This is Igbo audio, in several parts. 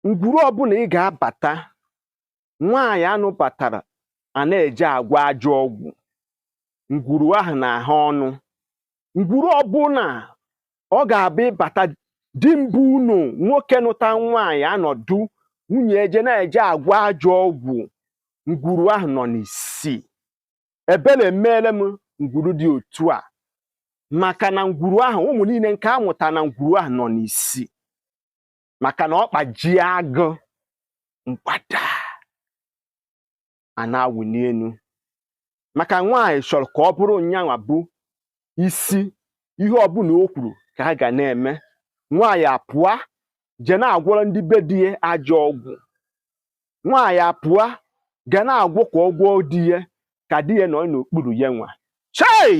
ngwuru ọbụla ị ga-abata nwaanyị a nụbatara a na-eje agwọ ajọ ọgwụ ngwuru ahụ na ahụ ọnụ ngwuru ọbụla ọ ga-abụ ịbata di mbụ ụnọ nwoke nụta nwaanyị anọdụ nwunye eje na-eje agwọ ajọ ọgwụ ngwuru ahụ nọ n'isi ebere emeele m ngwuru dị otu a maka na ngwuru ahụ ụmụ niile nke a mụta na ngwuru ahụ nọ n'isi maka na ọkpa jie agụ mgbada a na-awụli elu maka nwaanyị chọrọ ka ọ bụrụ nyanwa bụ isi ihe ọbụla o kwuru ka a ga na-eme nwaanyị apụa je na-agwọrọ ndị be di ya ajọ ọgwụ nwaanyị apụa ga na-agwọ ka ọ gwọọ di ya ka di ya nọ n'okpuru ya nwa chai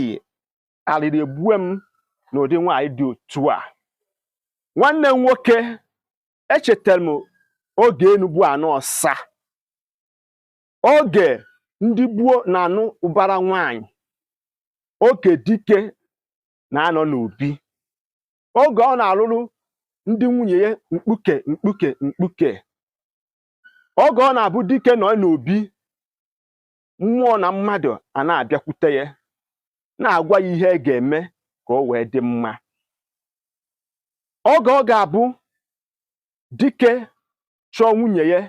alịrị egbue m n'ụdị nwaanyị dị otu a nwanne m nwoke echetara m oge enu bụ ana ọsa oge ndị gboo na-anụ ụbara nwaanyị oge dike na-anọ n'obi oge ọ na-alụrụ ndị nwunye ya mkpuke mkpuke mkpuke oge ọ na-abụ dike nọ n'obi mmụọ na mmadụ a na-abịakwute ya na-agwa ya ihe e ga-eme ka o wee dị mma oge ọ ga-abụ dike chọọ nwunye ya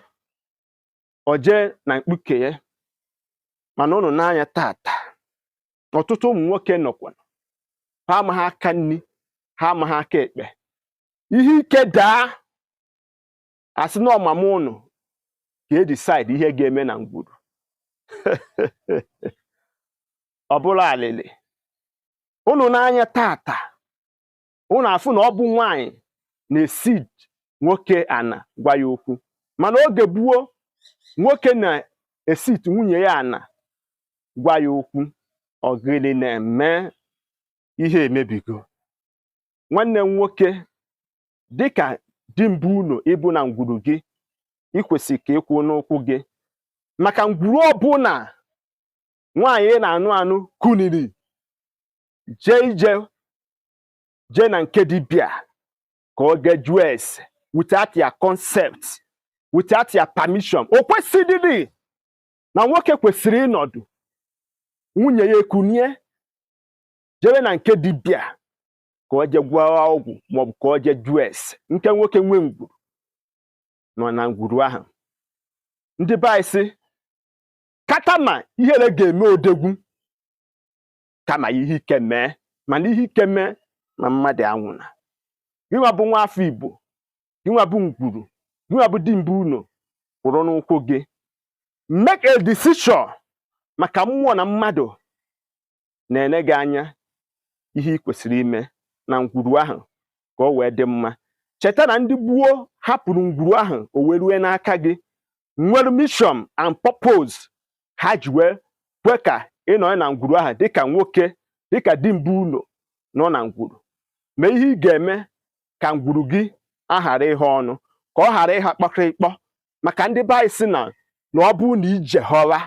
o jee na mkpuke ya mana ụnụ nee anya taata ọtụtụ ụmụ nwoke nọkwa ha amaghị aka nri ha amaghị aka ekpe ihe ike daa a sị na ọ mama ụnụ ka e decide ihe ga-eme na ngwuru ọ bụrụ alịlị ụnụ nee anya taata ụnụ afụ na ọ bụ nwaanyị na-esit nwoke ana gwa ya okwu mana oge gboo nwoke na-esit nwunye ya ana gwa ya okwu ọ gịnị na-eme ihe emebigo nwanne m nwoke dịka di mbụ ụnọ ị bụ na ngwuru gị i kwesị ka ị kwụe n'ụkwụ gị maka ngwuru ọbụla nwaanyị na-anụ anụ kuniri jee ije jee na nke dibịa ka ọ ga jụọ ese without your consent without your permission o kwesịrịrị na nwoke kwesịrị ịnọdụ nwunye ya ekunie jebe na nke dibịa ka ọ jee gwọọ ọgwụ maọbụ ka ọ jee jụọ ese nke nwoke nwe ngwuru nọ na ngwuru ahụ ndị be anyị sị kata ma ihere ga-eme odogwu kama ihe ike mee mana ihe ike mee ma mmadụ anwụna gịnwa bụ nwa afọ igbo gịnwa bụ ngwuru gịnwa bụ dimbe ụnọ kwụrụ n'ụkwụ gị make a decision maka mmụọ na mmadụ na-ene gị anya ihe ị kwesịrị ime na ngwuru ahụ ka o wee dị mma cheta na ndị gboo hapụrụ ngwuru ahụ o wee rue n'aka gị nwere mission and purpose ha ji wee kwe ka ị nọrọ na ngwuru ahụ dịka nwoke dịka dimbe ụlọ nọ na ngwuru mee ihe ị ga-eme ka ngwuru gị aghara ighe ọnụ ka ọ ghara ịha kpọkịrịkpọ maka ndị be anyị sị na na ọ bụrụ na ije họra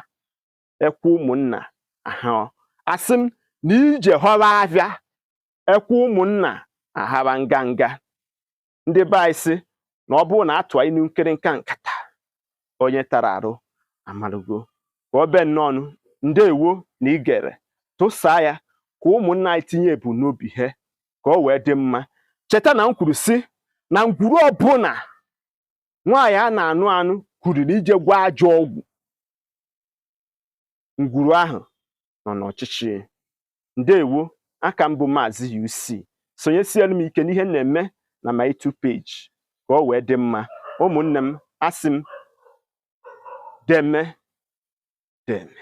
ekwe ụmụnna aha asị m na ije họra afịa ekwe ụmụnna ahara nganga ndị be anyị sị na ọ bụrụ na a tụa inu nkịrịnka nkata onye tara arụ amalugo ka ọ be nnọọ ndewo na i gere tụsaa ya ka ụmụnna anyị tinye ebumnobi ha ka ọ wee dị mma cheta na m kwuru sị na ngwuru ọbụla nwaanyị a na-anụ anụ kwuru na ije gwọọ ajọ ọgwụ ngwuru ahụ nọ n'ọchịchị ndewo a ka m bụ maazị UC sonyesielu m ike n'ihe na-eme na my two page ka ọ wee dị mma ụmụnne m asị m deme deme